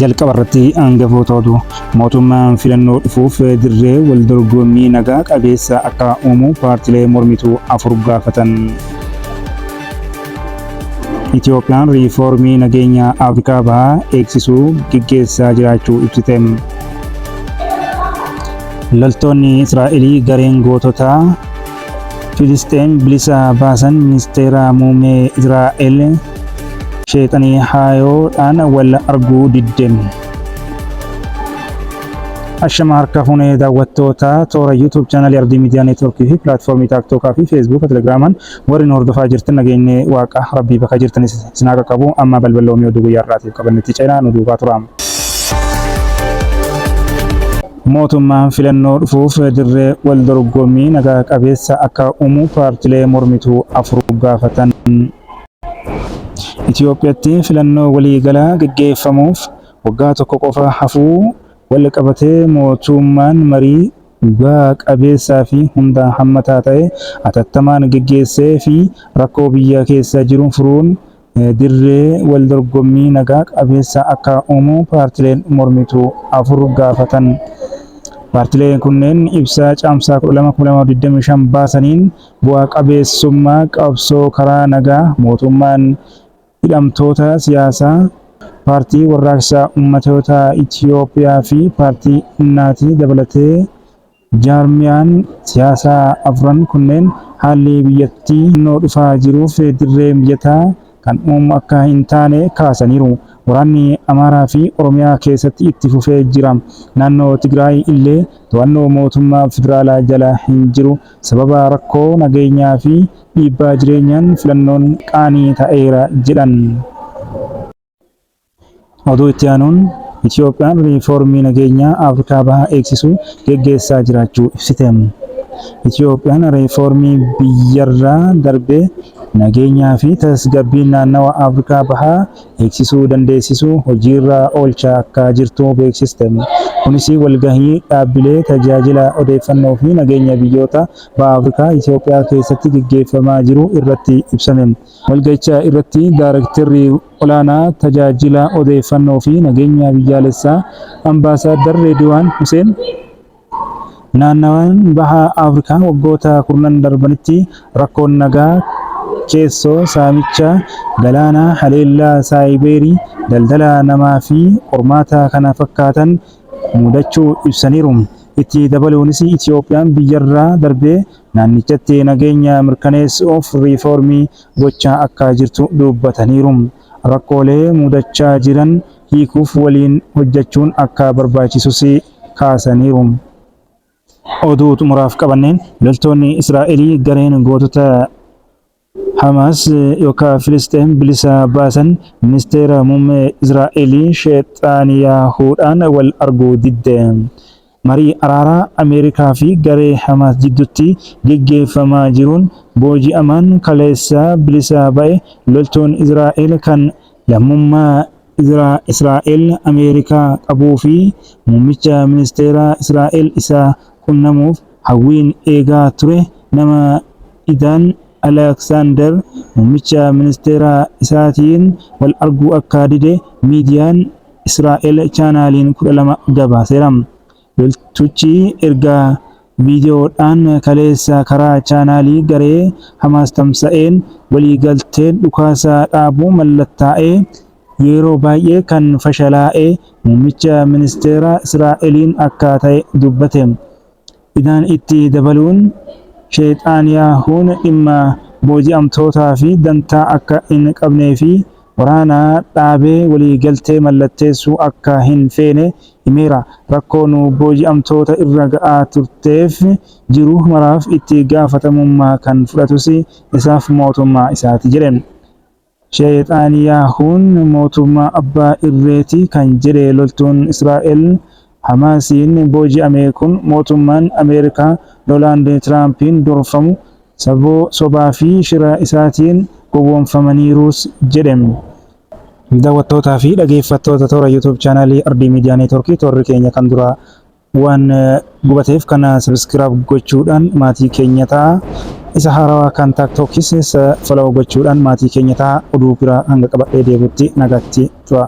jalqaba irratti hangafoota oduu mootummaan filannoo dhufuuf dirree wal dorgommii nagaa qabeessa akka uumu paartilee mormituu afur gaafatan. Itiyoophiyaan riifoormii nageenya Afrikaa Bahaa eegsisuu geggeessaa jiraachuu ibsite. Loltoonni Israa'elii gareen goototaa Filisxeem bilisa baasan ministeera muummee Israa'el sheexanii haayoodhaan wal arguu didde. Ashama harka fuunee daawwattoota toora YouTube chaanalii Ardii Miidiyaa Neetwoorkii fi pilaatfoormii Taaktookaa fi Feesbuuka Telegiraamaan Warri nu hordofaa jirtan nageenyi waaqa rabbii bakka jirtan isin haa qaqqabu amma balbal loomii oduu guyyaa har'aatiif qabannetti ceenaa nu duukaa turaa. Mootummaan filannoo dhufuuf dirree wal dorgommii naga qabeessa akka uumu paartilee mormituu afur gaafatan. Itiyoophiyatti filannoo walii galaa gaggeeffamuuf waggaa tokko qofa hafuu wal qabatee mootummaan marii dhuga qabeessaa fi hundaan hammataa ta'e atattamaan geggeessee fi rakkoo biyya keessa jiru furuun dirree wal dorgommii naga qabeessa akka uumu paartileen mormituu 4 gaafatan. Paartileen kunneen ibsa Caamsaa 12, 2025 baasaniin bu'a qabeessummaa qabsoo karaa nagaa mootummaan Hidhamtoota siyaasaa Paartii Warraaqsa Ummatoota Itiyoophiyaa fi Paartii Innaatii dabalatee jaarmiyaan siyaasaa afran kunneen haalli biyyattii filannoo dhufaa jiruuf dirree mijataa kan uumu akka hin taane kaasaniiru. Waraanni Amaaraa fi Oromiyaa keessatti itti fufee jira. Naannoo Tigraay illee to'annoo mootummaa federaalaa jala hin jiru Sababa rakkoo nageenyaa fi dhiibbaa jireenyaan filannoon qaanii ta'eera jedhan. Oduu itti aanuun Itiyoophiyaan riifoormii nageenyaa Afrikaa Bahaa eegsisu geggeessaa jiraachuu ibsite. Itiyoophiyaan riifoormii biyyarraa darbee nageenyaa fi tasgabbiin naannawa Afrikaa Bahaa beeksisuu dandeessisu hojiirra oolchaa akka jirtu beeksiste. Kunis walgahii dhaabbilee tajaajila odeeffannoo fi nageenya biyyoota Baha Afrikaa Itiyoophiyaa keessatti geggeeffamaa jiru irratti ibsame. Walgahicha irratti Daarektarri Olaanaa Tajaajila Odeeffannoo fi Nageenya Biyyaalessaa Ambaasaaddar Reediwaan Huseen, Naannawaan Baha Afrikaa waggoota kurnan darbanitti rakkoon nagaa, keessoo, saamicha galaanaa, haleellaa saayibeerii, daldala namaa fi qormaata kana fakkaatan mudachuu ibsaniiru. Itti dabaluunis Itiyoophiyaan biyyarraa darbee naannichatti nageenya mirkaneessuuf riifoormii gochaa akka jirtu dubbataniiru. Rakkoolee mudachaa jiran hiikuuf waliin hojjechuun akka barbaachisus kaasaniiru. Oduu xumuraaf qabanneen loltoonni Israa'elii gareen gootota Hamaas yookaan Filisxeem bilisa baasan ministeera muummee Israa'elii Sheexaaniyaahuudhaan wal arguu didde. Marii araaraa Ameerikaa fi garee Hamaas jidduutti geggeeffamaa jiruun booji'amaan kaleessa bilisa ba'e loltoonni Israa'el kan lammummaa Izraa Israa'el Ameerikaa qabuu fi muummicha ministeeraa Israa'el isa qunnamuuf hawwiin eegaa ture nama Idan Aleksaandar muummicha ministeeraa isaatiin wal arguu akka dide miidiyaan Israa'el Chaanaaliin 12 gabaaseera. Loltuchi erga viidiyoodhaan kaleessa karaa chaanaalii garee Hamaas tamsa'een waliigalteen dhukaasa dhaabuu mallattaa'e yeroo baay'ee kan fashalaa'e muummicha ministeera Israa'eliin akka ta'e dubbate. Idaan itti dabaluun, Sheexaanyaahuun dhimma booji'amtootaa fi dantaa akka hin qabnee fi waraana dhaabee waliigaltee mallatteessuu akka hin feene himeera. Rakkoo nu booji'amtoota irra ga'aa turteef jiru maraaf itti gaafatamummaa kan fudhatus isaaf mootummaa isaati jedhe. Sheexaaniyaahuun mootummaa abbaa irreeti kan jedhe loltuun Israa'el Hamaasiin booji'ame kun mootummaan Ameerikaa Doonaald Tiraampiin durfamu saboo sobaa fi shira isaatiin gowwoomfamaniiruus jedhe. Daawwattootaa fi dhageeffattoota toora YouTube chaanaalii Ardii Miidiyaa Neetwoorkii toorri keenya kan duraa waan gubateef kan sabiskiraab gochuudhaan maatii keenya ta'a. Isa haarawaa kan taaktookis isa folaw gochuudhaan maatii keenya ta'a. Oduu biraa hanga qabadhee deebutti nagaatti tura.